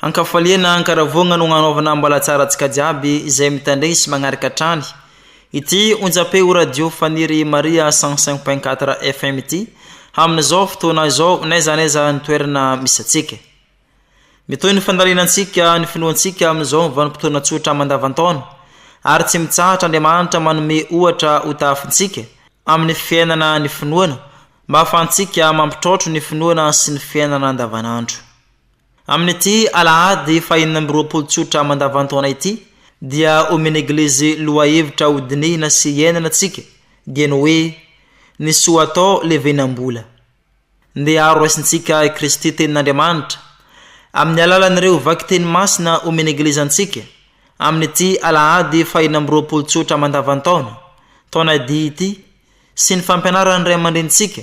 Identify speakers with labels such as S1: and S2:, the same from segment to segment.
S1: An-kafaliana, an-karavoagna no agnanaovana ambalatsaratsika jiaby izay mitandregny sy magnaraka hatrany ity onjam-peo radio Faniry Maria cent cinq point quatre FM ity amin'izao fotoana izao n'aiza n'aiza ny toerana misy antsika. Mitohy ny fandalinantsika ny finoantsika amin'izao vanim-potoana tsotra mandavan-taona ary tsy mitsahatra Andriamanitra manome ohatra ho tahafintsika amin'ny fiainana ny finoana mba ahafahantsika mampitraotro ny finoana sy ny fiainana andavanandro. Amin'ity alahady fahenina amby roapolo tsotra mandavan-taona ity dia omen'ny Eglizy lohahevitra ho dinihina sy iainana antsika dia ny hoe Ny soa atao levenam-bola. Ndeha aro raisintsika i Kristy Tenin'Andriamanitra amin'ny alalan'ireo vakiteny masina omen'ny Eglizy antsika amin'ity alahady fahenina amby roapolo tsotra mandavan-taona, taona D ity, sy ny fampianaran'ny ray aman-drenintsika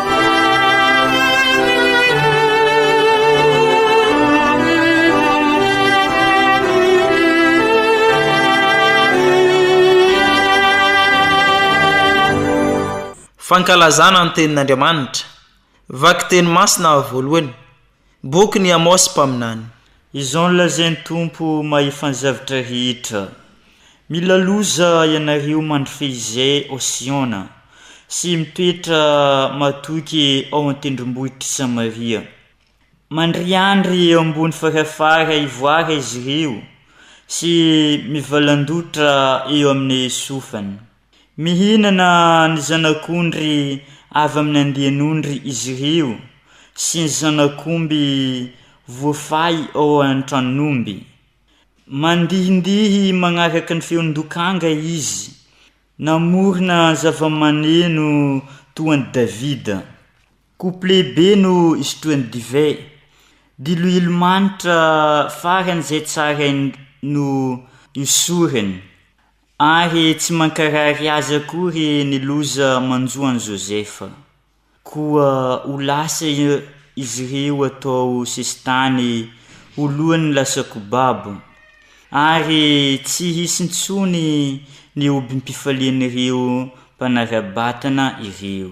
S1: Fankalazana ny Tenin'Andriamanitra. Vakiteny masina voalohany. Bokin'i Amôsy mpaminany. Izao no
S2: lazain'ny Tompo Mahefanjavitra rehetra, Mila loza ianareo mandry fehizay ao Siôna, sy mitoetra matoky ao an-tendrombohitr'i Samaria. Mandriandry eo ambony farafara ivoara izy ireo, sy mivalandotra eo amin'ny sofiny. Mihinana ny zanak'ondry avy amin'ny andian'ondry izy ireo sy ny zanak'omby voafay ao an-tranon'omby. Mandihindihy manaraka ny feon-dokanga izy, namorona zavamaneno toa an'i Davida. Couplet be no isotroany divay, diloilo manitra faran'izay tsarainy no iosorany. Ary tsy mankarary azy akory ny loza manjo an'i Josepha. Koa ho lasa izy ireo atao sesitany ho lohan'ny lasakobabo, ary tsy hisy intsony ny hobim-pifalian'ireo mpanara-batana ireo.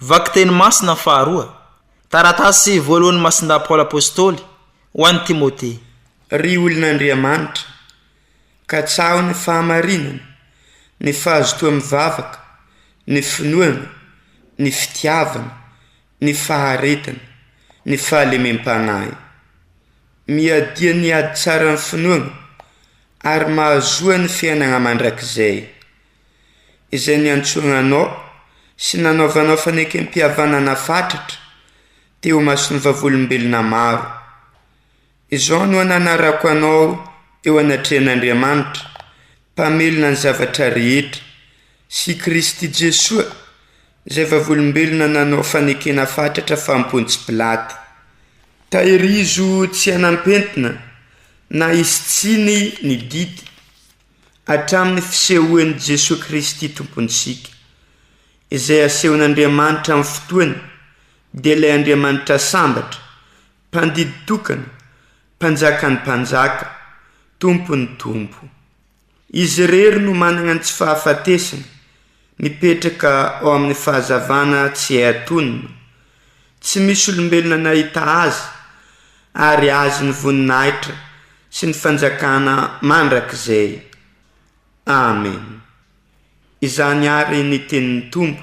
S1: Vakiteny masina faharoa. Taratasy voalohan'i Masindahy Paoly Apostoly ho an'i Timote. Ry
S3: olon'Andriamanitra, katsaho ny fahamarinana, ny fahazotoa mivavaka, ny finoana, ny fitiavana, ny faharetana, ny fahalemem-panahy. Miadia ny ady tsaran'ny finoana ary mahazoa ny fiainana mandrakizay. izay niantsoana anao sy nanaovanao fanekempihavanana fatratra teo imason'ny vavolombelona maro. Izao no ananarako anao eo anatrehan'Andriamanitra, Mpamelona ny zavatra rehetra, sy i Kristy Jesoa, izay vavolombelona nanao fanekena fatratra fa Pontsy Pilato. Tahirizo tsy hanam-pentina na hisy tsiny ny didy. hatramin'ny fisehoan'i Jesoa Kristy Tompontsika. Izay asehon'Andriamanitra amin'ny fotoany dia ilay Andriamanitra sambatra, mpandidy tokana, mpanjakan'ny mpanjaka, tompon'ny tompo. Izy irery no manana ny tsy fahafatesana. Mipetraka ao amin'ny fahazavana tsy hay atonina. Tsy misy olombelona nahita Azy, ary Azy ny voninahitra sy ny fanjakana mandrakizay. Amena. Izany àry ny tenin'ny Tompo,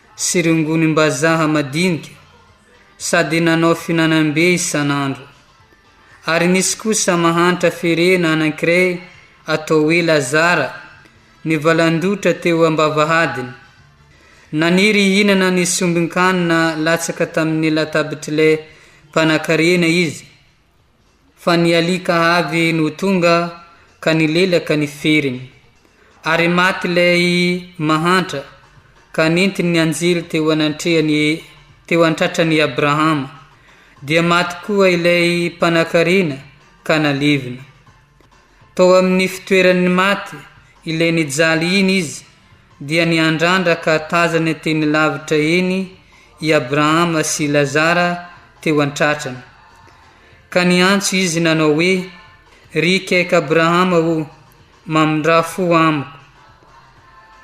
S4: sy rongonim-bazaha madinika sady nanao fihinanam-be isan'andro, ary nisy kosa mahantra ferena anankiray atao hoe Lazara nivalan-dotra teo am-bavahadiny. Naniry hihinana ny sombin-kanina latsaka tamin'ny latabitr'ilay mpanankarena izy, Fa ny alika avy no tonga ka nilelaka ny feriny, ary maty ilay mahantra ka nentiny ny anjely teo anantrehany teo an-tratran'i Abrahama, dia maty koa ilay mpanankarena ka nalevina. Tao amin'ny fitoeran'ny maty ilay nijaly iny izy, dia niandrandra ka tazany teny lavitra eny i Abrahama sy Lazara teo an-tratrany. Ka niantso izy nanao hoe, Ry Ikek Abrahama o, mamindrà fo amiko.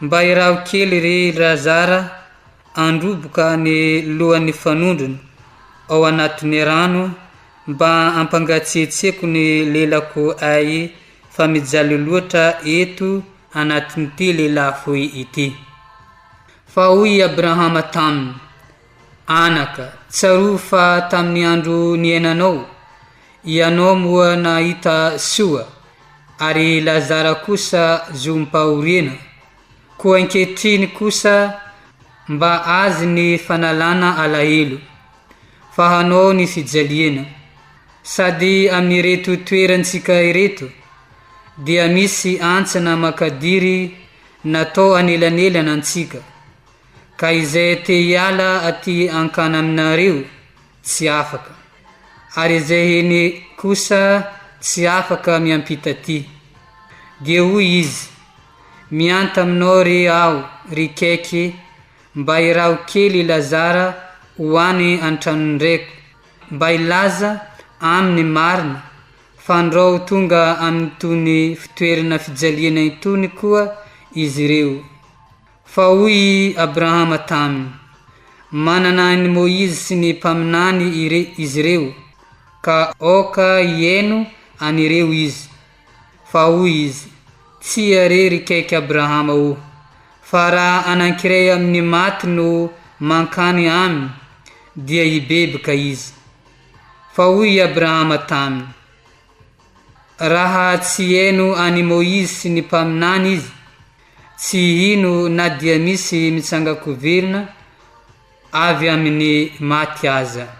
S4: Mba iraho kely re i Lazara Handroboka ny lohan'ny fanondrony ao anatin'ny rano mba hampangatsiatsiako ny lelako ay fa mijaly loatra eto anatin'ity lelafoy ity. Fa hoy i Abrahama taminy, Anaka, tsarovy fa tamin'ny andro niainanao, ianao moa nahita soa, ary Lazara kosa zohim-pahoriana, Koa ankehitriny kosa mba azy ny fanalana alahelo, fa hanao ny fijaliana, sady amin'ireto toerantsika ireto dia misy antsana makadiry natao anelanelana antsika, ka izay te hiala aty ankana aminareo, tsy afaka, ary izay hene kosa tsy afaka miampita aty. Dia hoy izy, Mianta aminao re aho, ry Kaiky, mba iraho kely i Lazara ho any an-tranon'ny reko, mba hilaza aminy marina, fa ndrao ho tonga amin'itony fitoerana fijaliana itony koa izy ireo. Fa hoy i Abrahama taminy, Manana an'i Moizy sy ny mpaminany izy ireo, ka aoka hihaino an'ireo izy. Fa hoy izy, Tsia re ry kaiky Abrahama o, fa raha anankiray amin'ny maty no mankany aminy, dia hibeby ka izy. Fa hoy i Abrahama taminy, Raha tsy hihaino an'i Moizy sy ny mpaminany izy, Tsy hino na dia misy mitsangan-koverina avy amin'ny maty aza.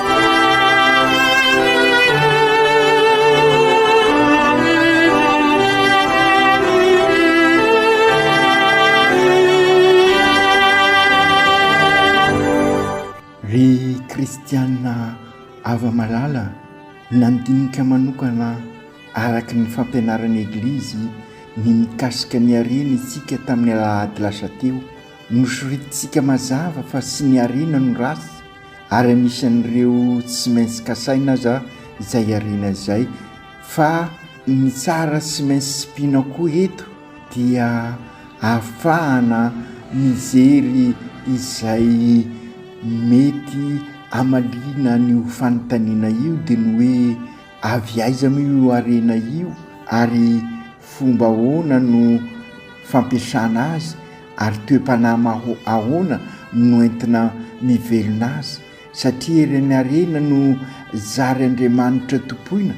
S5: nandinika manokana araka ny fampianaran'ny Eglizy ny mikasika ny harena isika tamin'ny alahady lasa teo. Nosoritintsika mazava fa tsy ny harena no ratsy, ary anisan'ireo tsy maintsy kasaina aza izay iariana izay fa ny tsara tsy maintsy tsipiana koa eto dia ahafahana mijery izay mety hamaliana an'io fanontaniana io dia ny hoe Avy aiza moa io harena io ary fomba ahoana no fampiasana azy ary toe-panahy ahoana no entina mivelona azy? Satria ireny harena no zary Andriamanitra tompoina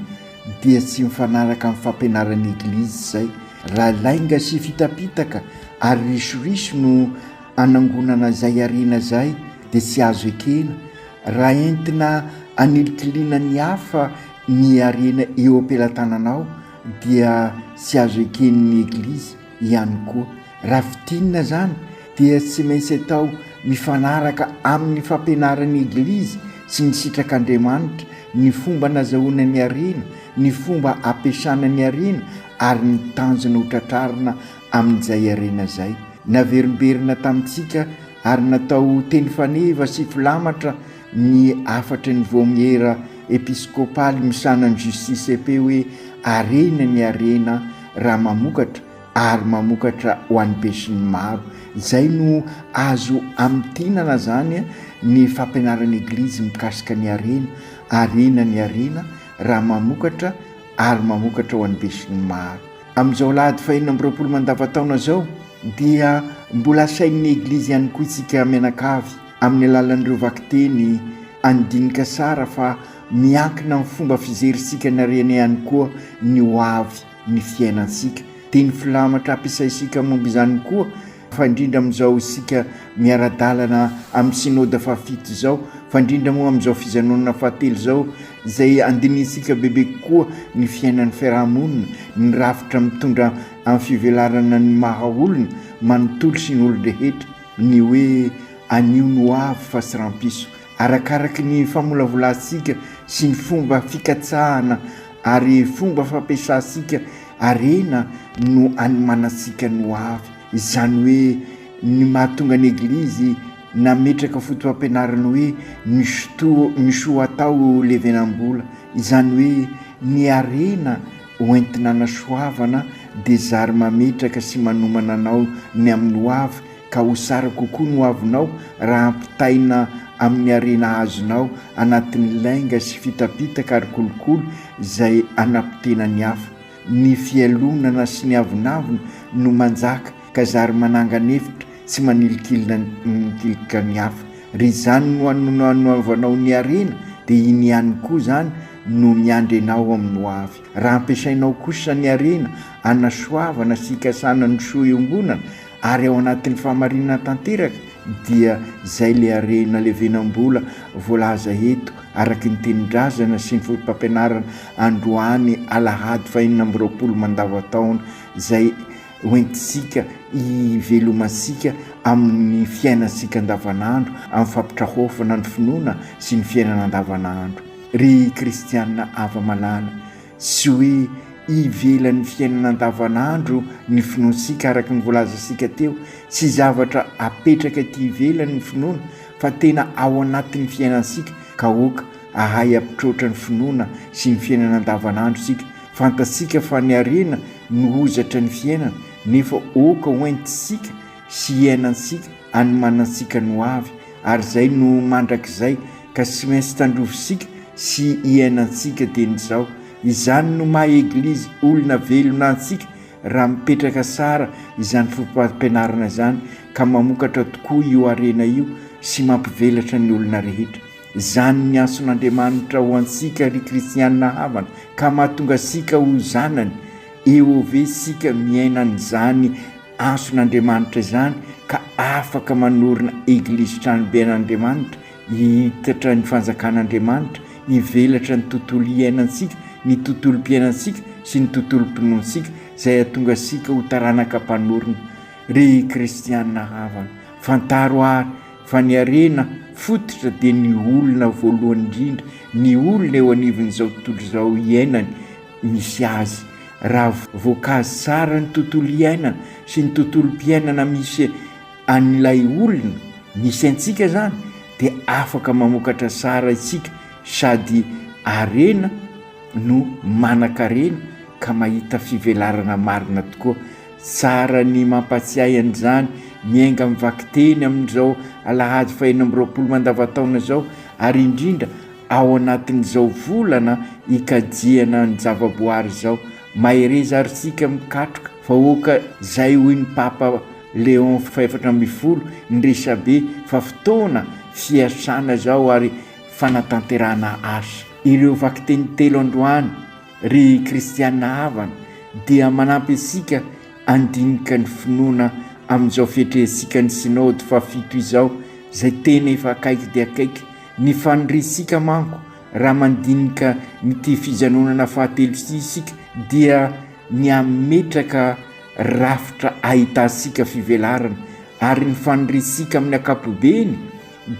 S5: dia tsy mifanaraka amin'ny fampianaran'ny Eglizy izay. Raha lainga sy fitapitaka ary risoriso no anangonana izay harena izay dia tsy azo ekena. Raha entina anilikiliana ny hafa ny harena eo am-pelatananao dia tsy azo eken'ny Eglizy ihany koa. Raha fintinina izany dia tsy maintsy atao mifanaraka amin'ny fampianaran'ny Eglizy sy ny sitrak'Andriamanitra ny fomba nazahoana ny harena, ny fomba ampiasana ny harena ary ny tanjona hotratrarina Amin'izay harena izay naverimberina tamintsika ary natao teny faneva sy filamatra ny hafatry ny Vaomiera Episkopaly misahana ny Justicepe hoe Harena ny harena raha mamokatra ary mamokatra ho an'ny besinimaro. Izay no azo amintinana izany ny fampianaran'ny Eglizy mikasika ny harena, Harena ny harena raha mamokatra ary mamokatra ho an'ny besinimaro. Amin'izao alahady fahenina amby roapolo mandavantaona izao dia mbola asain'ny Eglizy ihany koa isika mianakavy amin'ny alalan'ireo vakiteny andinika sara fa miankina amin'ny fomba fizerisika ny harena ihany koa ny ho avy ny fiainantsika. Teny filamatra ampiasaisika momba izany koa fa indrindra amin'izao isika miara-dalana amin'ny synoda fahafito izao, fa indrindra moa amin'izao fijanonana fahatelo izao, izay andinihintsika bebe kokoa ny fiainan'ny fiaraha-monina, ny rafitra mitondra amin'ny fivelarana ny maha olona manontolo sy ny olon-drehetra, ny hoe anio no avy fa tsy rahampitso, Arakaraky ny famolavolantsika sy ny fomba fikatsahana ary fomba fampiasantsika harena no anomanantsika ny hoavy. Izany hoe ny mahatonga ny Eglizy nametraka foto-pampianarana hoe ny sotoa, ny soa atao levenam-bola, izany hoe ny harena hoentina anasoavana dia zary mametraka sy manomana anao ny amin'ny hoavy ka ho tsara kokoa ny hoavinao raha ampitaina amin'ny harena azonao anatin'ny lainga sy fitapitaka ary kolikoly izay hanapotena ny hafa. Ny fialonana sy ny avonavona no manjaka ka zary manangana efitra tsy manilikilina mikilkika ny hafa. Ry izany no ananoavanao ny harena dia iny ihany koa izany no miandry anao amin'ny hoavy. Raha ampiasainao kosa ny harena hanasoavana sy hikasana ny soa iombonana ary ao anatin'ny fahamarinana tanteraka dia izay le harena levenam-bola voalaza eto araky ny tenin-drazana sy ny fotopampianarana androany alahady fahenina amby roapolo mandavan-taona izay hoentintsika hivelomantsika amin'ny fiainantsika andavanandro amin'ny fampitrahofana ny finoana sy ny fiainana andavanandro. Ry Kristianina afa-malala, Tsy hoe ivelan'ny fiainana andavanandro ny finoantsika araka ny voalazantsika teo, tsy zavatra apetraka ety ivelany ny finoana fa tena ao anatin'ny fiainantsika ka aoka ahay ampitroatra ny finoana sy ny fiainana andavanandro isika, fantatsika fa ny harena no hozatry ny fiainana nefa aoka hoentintsika sy hiainantsika any manantsika ny hoavy ary izay no mandrakizay ka sy maintsy tandrovisika sy hiainantsika dia ny zao izany no maha eglizy olona velona antsika raha mipetraka sara izany fopampianarana izany ka mamokatra tokoa io harena io sy mampivelatra ny olona rehetra izany ny antson'Andriamanitra ho antsika ry kristiana havana ka mahatonga asika ho zanany EOV sika miaina an'izany Antson'Andriamanitra izany ka afaka manorina Eglizy tranobe an'Andriamanitra, hihitatra ny fanjakan'Andriamanitra, hivelatra ny tontolo iainantsika, ny tontolom-piainantsika sy ny tontolom-pinoantsika izay hahatonga antsika ho taranaka mpanorina. Ry kristiana havana, fantaro àry fa ny harena fototra dia ny olona voalohany indrindra, ny olona eo anivon'izao tontolo izao iainany, misy azy. Raha voakazy tsara ny tontolo iainana sy ny tontolom-piainana misy an'ilay olona misy antsika izany dia afaka mamokatra tsara isika sady harena no manan-karena ka mahita fivelarana marina tokoa. Tsara ny mampatsiahy an'izany ny enga mivakiteny amin'izao alahady fahenina amby roapolo mandavantaona izao ary indrindra Ao anatin'izao volana ikajiana ny zavaboary izao, mahereza ary isika mikatroka vahoaka izay hoy ny Papa Léon fahefatra ambin'ny folo ny resabe fa fotoana fiasana izao ary fanatanterahana asa. Ireo vakiteny telo androany, ry kristiana havana, dia manampy antsika handinika ny finoana amin'izao fiatrehantsika ny Synaody fahafito izao izay tena efa akaiky dia akaiky, Ny faniriantsika manko raha mandinika an'ity fijanonana fahatelo ity isika dia ny hametraka rafitra ahitantsika fivelarana ary ny faniriantsika amin'ny ankapobeny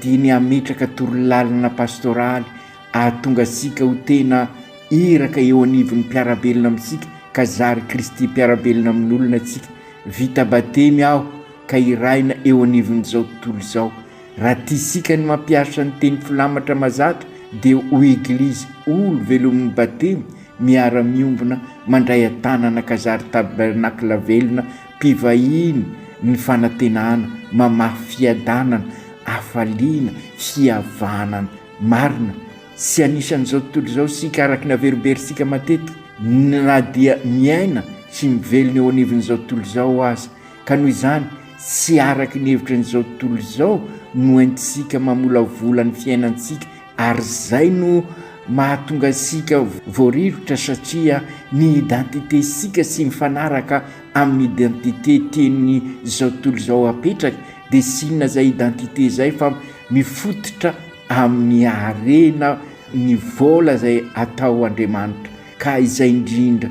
S5: dia ny hametraka torolalana pastoraly ahatonga antsika ho tena iraka eo anivon'ny mpiara-belona amintsika ka zary Kristy mpiara-belona amin'olona antsika. Vita batemy aho ka hiraina eo anivon'izao tontolo izao. Raha tiasika ny mampiasa ny teny filamatra mazatra dia ho Eglizy olo velomin'ny Batemy miara miombona mandray an-tanana Kazary Tabernacle velona mpivahiny ny fanantenana mamafy fiadanana, hafaliana, fihavanana marina. Tsy anisan'izao tontolo izao isika araka ny averimberisika matetika na dia miaina sy mivelona eo anivon'izao tontolo izao aza. Ka noho izany, tsy araka ny hevitry an'izao tontolo izao no entintsika mamolavola ny fiainantsika ary izay no mahatonga antsika voarivotra satria ny identité-ntsika tsy mifanaraka amin'ny identité tian'izao tontolo izao hapetraka dia tsy inona izay identité izay fa mifototra amin'ny harena ny vola izay atao Andriamanitra ka izay indrindra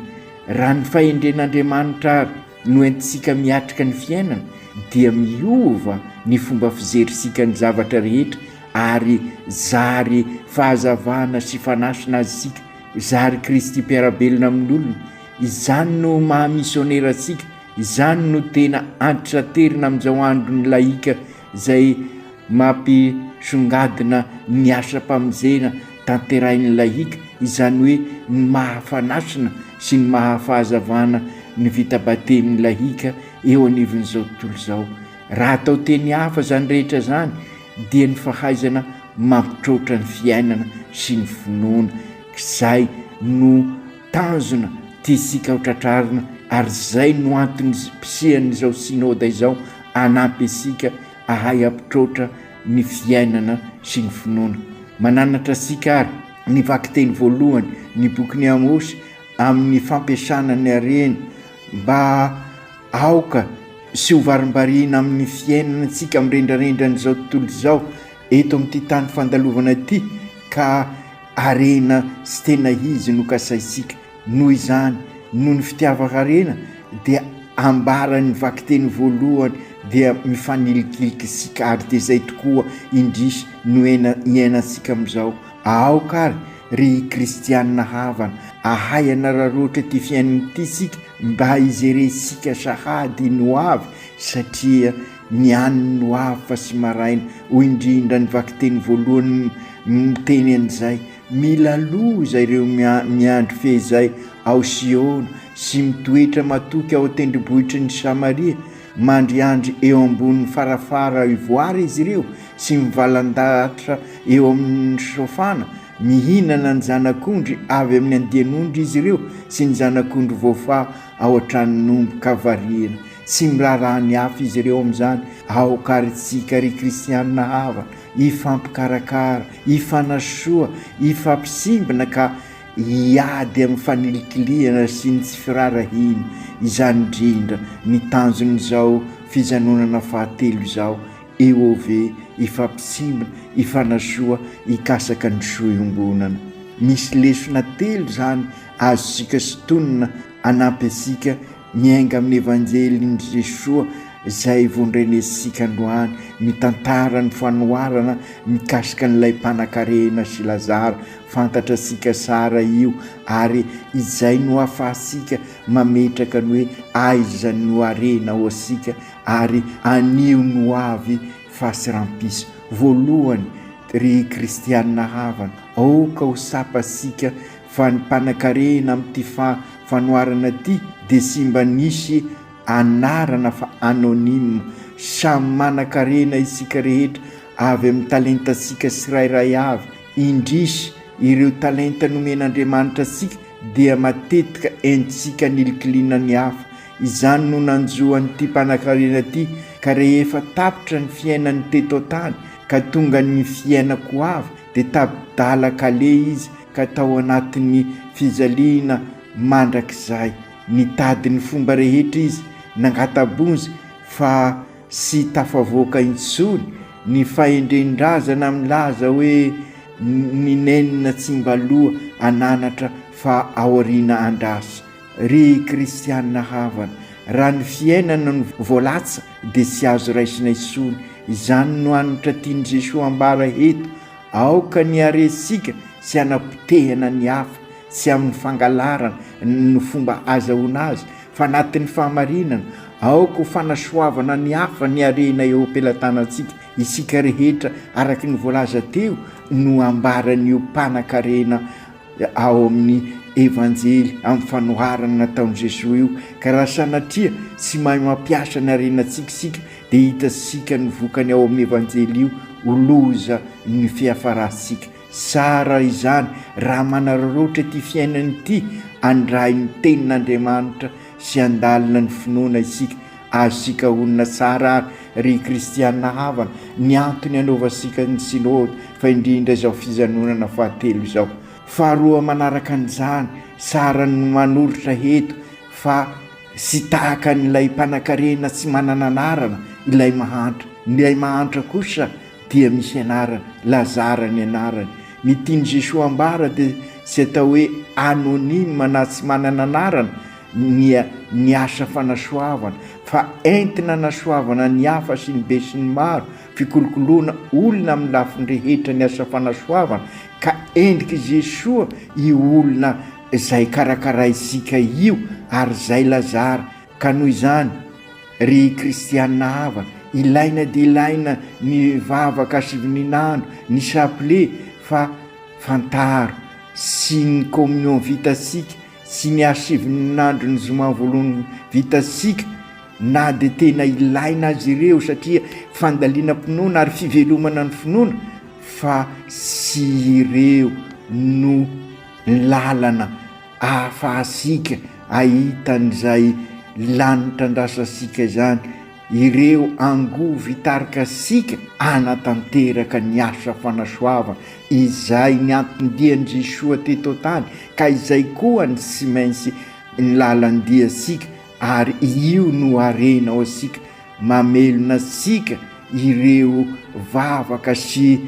S5: raha ny fahendren'Andriamanitra ary noentintsika miatrika ny fiainana dia miova ny fomba fizerisika ny zavatra rehetra ary zary fahazavana sy fanasina azy isika, zary Kristy mpiara-belona amin'olona. Izany no maha misionera antsika, izany no tena antitraterina amin'izao andron'ny lahika izay mampisongadina ny asam-pamonjena tanterahin'ny lahika, izany hoe ny maha-fanasina sy ny maha-fahazavana ny vita batemin'ny lahika eo anivon'izao tontolo izao. Raha atao teny hafa izany rehetra izany dia ny fahaizana mampitroatra ny fiainana sy ny finoana izay no tanjona tiantsika ho tratrarina ary izay no antony fisian'izao Synoda izao, hanampy antsika hahay hampitroatra ny fiainana sy ny finoana. Mananatra antsika àry ny vakiteny voalohany ny bokin'i Amosy amin'ny fampiasana ny harena mba aoka sy hovarimbariana amin'ny fiainana antsika amin'ny rendrarendran'izao tontolo izao eto amin'ity tany fandalovana ity ka harena sy tena izy no kasaintsika Noho izany, noho ny fitiavan-karena, dia ambaran'ny vakiteny voalohany dia mifanilikiliky sy kary dia izay tokoa indrisy no iainantsika amin'izao. Aoka ary, ry kristianina havana, ahay hanararaotra ity fiainana ity isika mba hijerentsika sahady ny ho avy satria ny an'ny ho avy fa tsy maraina, hoy indrindra ny vakiteny voalohany miteny an'izay. Mila loza ireo miandry fehizay ao Siôna sy mitoetra matoky ao an-tendrombohitry ny Samaria. Mandriandry eo ambonin'ny farafara ivoara izy ireo sy mivalan-dahatra eo amin'ny sofàna. Mihinana ny zanak'ondry avy amin'ny andian'ondry izy ireo sy ny zanak'ondry voafaha ao an-tranon'omby ka variana. Tsy miraharaha ny hafa izy ireo amin'izany. Aoka àry isika ry kristianina havana, hifampikarakara, hifanasoa, hifampisimbina ka hiady amin'ny fanilikilihana sy ny tsy firaharahiana, izany indrindra ny tanjon'izao fijanonana fahatelo izao, EOV, hifampisimbina, hifanasoa, hikasaka ny soa iombonana. Misy lesona telo izany azontsika sintonina hanampy antsika Miainga amin'ny Evanjelin'i Jesoa izay vondrenentsika androany, mitantara ny fanoharana mikasika an'ilay mpanankarena sy Lazara fantatra antsika sara io ary izay no ahafahantsika mametraka ny hoe aiza no harena ao antsika ary anio no ho avy fa tsy rampisa. Voalohany, ry kristiana havana, aoka ho tsapantsika fa ny mpanakarena amin'ity fa fanoharana ity dia tsy mba nisy anarana fa anonyme, samy manakarena isika rehetra avy amin'ny talentantsika tsirairay avy, indrisy ireo talenta nomen'Andriamanitra antsika dia matetika entintsika anilikilina ny hafa, izany no nanjo an'ity mpanakarena ity ka rehefa tapitra ny fiainany teto an-tany ka tonga ny fiainako avy dia tadala kale izy ka tao anatin'ny fijaliana mandrakizay. Nitady ny fomba rehetra izy nangata-bonjy fa tsy tafavoaka intsony ny fahendren-drazana milaza hoe ny nenina tsy mba loha an'anatra fa aoriana andrasa. Ry kristiana havana, raha ny fiainana no voalatsa dia tsy azo raisina intsony. Izany no hanitra tian'i Jesoa ambara eto. Aoka ny haresika sy hanapotehana ny hafa tsy amin'ny fangalarana ny fomba azahoana azy fa anatin'ny fahamarinana, aoka ho fanasoavana ny hafa ny harena eo am-pelatanantsika isika rehetra araka ny voalaza teo no ambaran'io mpanan-karena ao amin'ny Evanjely amin'ny fanoharana nataon'i Jesoa io, ka raha sanatria tsy mahay mampiasa ny harenantsika isika dia hitantsika ny vokany ao amin'ny Evanjely io ho loza ny fiafarantsika. Tsara izany raha manararaotra ity fiainana ity andrain'ny Tenin'Andriamanitra sy handalina ny finoana isika. Azontsika honina tsara àry, ry kristiana havana, ny antony anaovantsika ny Synody, fa indrindra izao fijanonana fahatelo izao. Faharoa manaraka an'izany, tsara ny manoritra eto fa tsy tahaka an'ilay mpanankarena tsy manana anarana ilay mahantra. Ilay mahantra kosa, Dia misy anarany, lazara ny anarany. Ny tian'i Jesoa ambara dia tsy atao hoe anonyme na tsy manana anarana ny ny asa fanasoavana fa entina anasoavana ny hafa sy ny be sy ny maro, fikolokoloana olona amin'ny lafiny rehetra ny asa fanasoavana ka endrik'i Jesoa io olona izay karakaraintsika io ary izay lazara. Ka noho izany, ry kristiana havana, ilaina dia ilaina ny vavaka sivininandro, ny chapelet, fa fantaro, tsy ny communion vitantsika, tsy ny hasivininandron'ny zoma voalohany vitantsika, na dia tena ilaina aza ireo satria fandalinam-pinoana ary fivelomana ny finoana, fa tsy ireo no lalana. ahafahantsika ahita an'izay lany trandrasantsika izany ireo angovo hitarika antsika hanatanteraka ny asa fanasoavana izay nianton-dian-dry soa teto an-tany ka izay koa ny tsy maintsy ny lalan-diantsika Ary io no harenao antsika, mamelona antsika ireo vavaka sy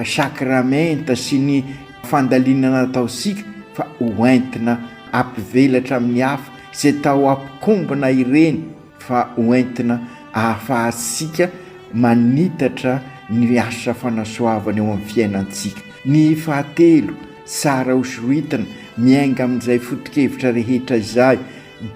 S5: sakramenta sy ny fandalinana ataontsika fa ho entina hampivelatra amin'ny hafa izay tao am-pikombana ireny fa ho entina ahafahantsika manitatra ny asa fanasoavana eo amin'ny fiainantsika. Ny fahatelo, tsara ho soritana, miainga amin'izay foto-kevitra rehetra izay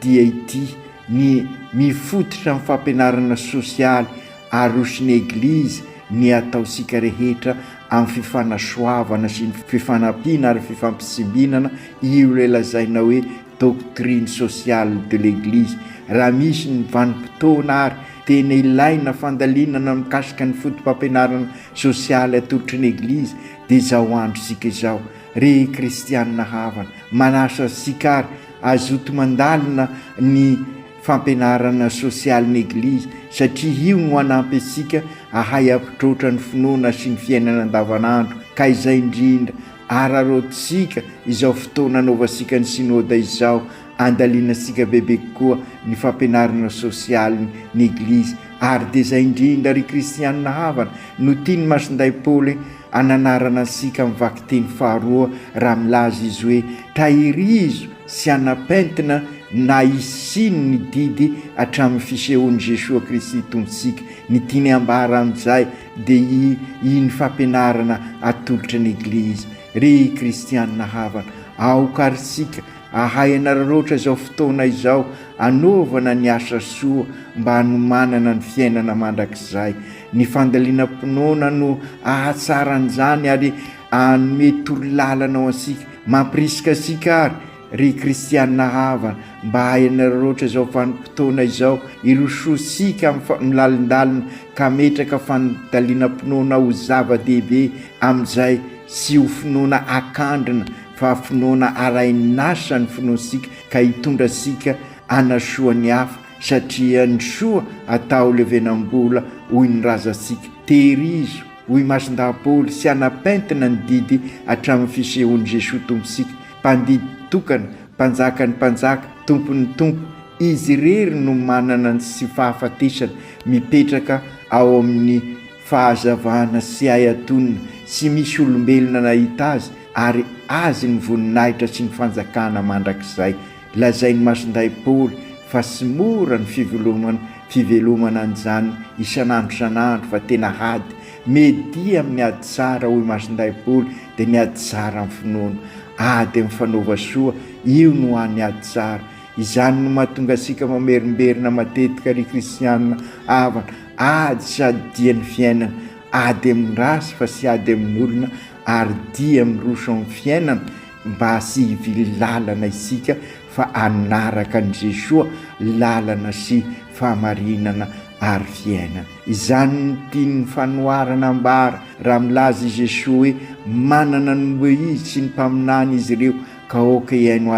S5: dia ity, ny mifototra amin'ny fampianarana sosialy aroson'ny Eglizy ny ataontsika rehetra amin'ny fifanasoavana sy ny fifanampiana ary fifampitsimbinana, io ilay lazaina hoe doctrine sociale de l'Eglise. Raha misy ny vanim-potoana ary tena ilaina fandalinana mikasika ny fotopampianarana sosialy atolotry ny Eglizy dia izao androntsika izao. Ry Kristianina havana, manasa antsika ary Azoto mandalina ny fampianarana sosialy ny Eglizy satria io no hanampy antsika ahay hampitroatra ny finoana sy ny fiainana andavanandro ka izay indrindra araraotintsika izao fotoana anaovantsika ny Synoda izao andalinantsika bebe kokoa ny fampianarana sosialy ny Eglizy ary dia izay indrindra ry Kristianina havana no tian'i Masindahy Paoly Ananarana antsika amin'ny vakiteny faharoa raha milaza izy hoe Tahirizo sy anapentina na isino ny didy hatramin'ny fisehoan'i Jesoa Kristy Tompontsika. Ny tiany hambara amin'izay dia i iny fampianarana atolotra ny Eglizy, Ry Kristianina havana, aoka ary isika hahay hanararaotra izao fotoana izao hanaovana ny asa soa mba hanomanana ny fiainana mandrakizay. Ny fandalinam-pinoana no ahatsara an'izany ary hanome torolalana ho antsika. Mampirisika antsika àry, ry kristiana havana, mba hahay hanararaotra izao vanim-potoana izao, hirosoantsika amin'ny fa, milalindalina ka hametraka fandalinam-pinoana ho zava-dehibe amin'izay, tsy ho finoana akandrina fa finoana arahin'asa ny finoantsika ka hitondra antsika hanasoa ny hafa, Satria ny soa atao levenam-bola hoy ny razantsika, tehirizo, hoy Masindahy Paoly, sy hanapentina ny didy hatramin'ny fisehoan'i Jesoa Tompontsika, Mpandidy tokana, Mpanjakan'ny mpanjaka, Tompon'ny tompo. Izy irery no manana ny tsy fahafatesana, mipetraka ao amin'ny fahazavana tsy hay atonina, tsy misy olombelona nahita Azy, ary Azy ny voninahitra sy ny fanjakana mandrakizay. Lazain'i Masondahy Paoly fa tsy mora ny fivelomana fivelomana an'izany isan'andro isan'andro fa tena ady. Media amin'ny ady tsara, hoy Masondahy Paoly, dia ny ady tsara amin'ny finoana. Ady amin'ny fanaova soa, io no hany ady tsara. Izany no mahatonga antsika mamerimberina matetika ry kristiana havana. Ady sady dia ny fiainana. Ady amin'ny ratsy fa tsy ady amin'olona ary dia miroso amin'ny fiainana. mba sy hivily lalana isika fa hanaraka an'i Jesoa lalana sy fahamarinana ary fiainana. Izany no tian'ny fanoharana ambara raha milaza i Jesoa hoe manana ny loha Izy sy ny mpaminany izy ireo ka aoka hihaino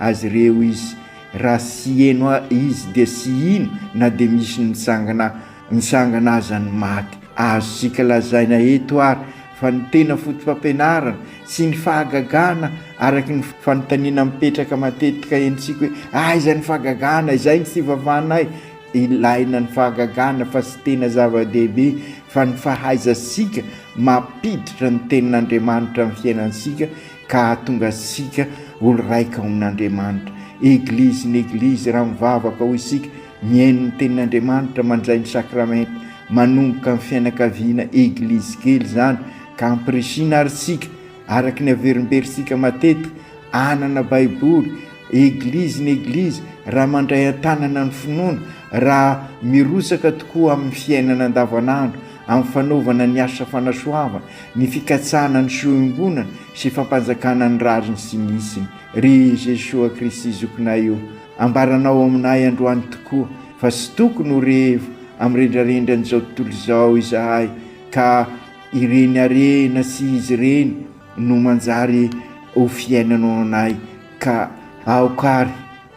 S5: Azy ireo izy. Raha tsy heno Izy dia tsy hino na dia misy nitsangana Mitsangana aza ny maty. Azontsika lazaina eto ary fa ny tena fotopampianarana sy ny fahagagana araka ny fanontaniana mipetraka matetika henontsika hoe aiza ny fahagagana? Izay ny fivavanay. Ilaina ny fahagagana fa tsy tena zava-dehibe fa ny fahaizantsika mampiditra ny tenin'Andriamanitra amin'ny fiainantsika ka hahatonga antsika olo-raika ao amin'Andriamanitra. Eglizy ny Eglizy raha mivavaka hoy isika. Mihaino ny tenin'Andriamanitra mandray ny sakramenta manomboka amin'ny fianakaviana eglizy kely izany ka ampirisihina ary isika araka ny averimberintsika matetika hanana baiboly eglizy ny eglizy raha mandray an-tanana ny finoana raha mirotsaka tokoa amin'ny fiainana andavanandro amin'ny fanaovana ny asa fanasoavana ny fikatsahana ny soembonana sy fampanjakana ny rariny sy ny isiny ry Jesoa Kristy zokinay o Ambaranao aminay androany tokoa fa tsy tokony ho revo amin'ny rendrarendran'izao tontolo izao izahay ka ireny harena sy izy ireny no manjary ho fiainanao anay ka aoka ary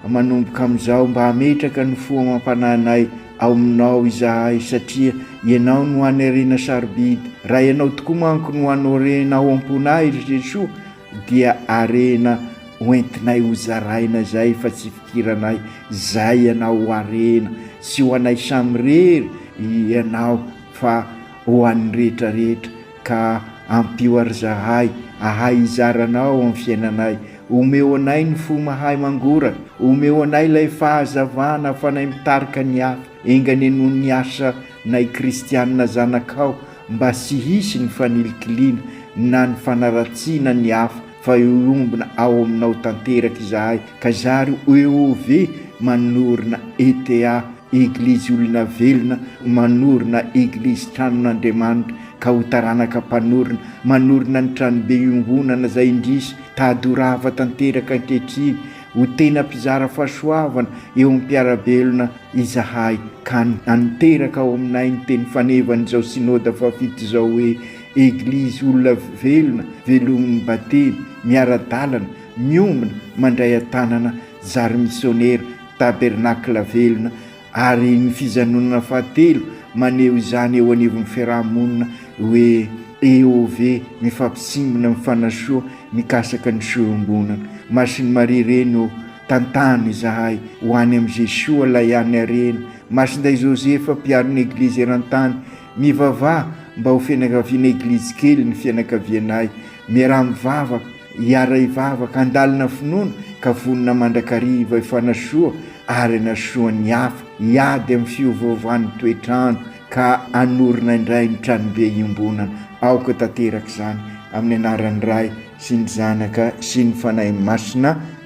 S5: manomboka amin'izao mba hametraka ny fo amam-panahinay ao aminao izahay satria ianao no hanerena sarobidy raha ianao tokoa manko no hanorenao am-ponay ry Jesoa dia harena hoentinay hozaraina zay fa tsy fikiranay zay ianao ho harena tsy ho anay samirery ianao fa ho an'ny rehetra rehetra ka ampio ary zahay ahay hizara anao amin'ny fiainanay omeo anay ny fo mahay mangoraka omeo anay ilay fahazavana afanay mitarika ny hafa Enga anie noho ny asa nay kristianina zanakao mba sy hisy ny fanilikiliana na ny fanaratsiana ny hafa fa eombina ao aminao tanteraka izahay ka zary oeov manorina ETA, Eglizy Olona Velona manorina Eglizy Tranon'Andriamanitra ka ho taranaka mpanorina manorina ny tranobe iongonana zay indrisy tady ho rava tanteraka ankehitriny ho tena mpizara fahasoavana eo am-piarabelona izahay ka hanteraka ao aminay ny teny fanevan'izao Synoda fahafito izao hoe, Eglizy olona velona, velomin'ny Batemy, miara-dalana, miombona, mandray an-tanana, zary misionera, tabernakla velona, ary ny fijanonana fahatelo maneho izany eo anivon'ny fiaraha-monina hoe, EOV, mifampisimbina, mifanasoa, mikasaka ny fiombonana. Masin'i Maria Reny ô! Tantano izahay ho any amin'i Jesoa ilay an'ny harena, Masindahy Joseph mpiaron'ny Eglizy eran-tany, mivavaha mba ho fianakaviana Eglizy kely ny fianakavianay, miaraha mivavaka, hiara-hivavaka, handalina finoana ka vonona mandrakariva hifanasoa ary hanasoa ny hafa, hiady amin'ny fiovaovan'ny toetr'andro ka hanorina indray ny Tranobe iombonana. Aoka tanteraka izany, amin'ny anaran'ny Ray sy ny Zanaka sy ny Fanahy Masina.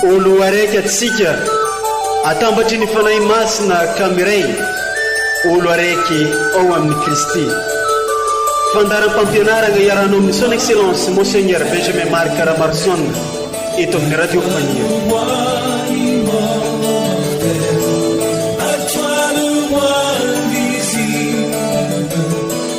S6: Ho loharaiky atsika atambatry ny Fanahy Masina ka miray ho loharaiky ao amin'i Kristy. Fandaharam-pampianarana iarahanao amin'ny Son Excellence Monseigneur Benjamin Marc Ramarson eto amin'ny Radio Fania.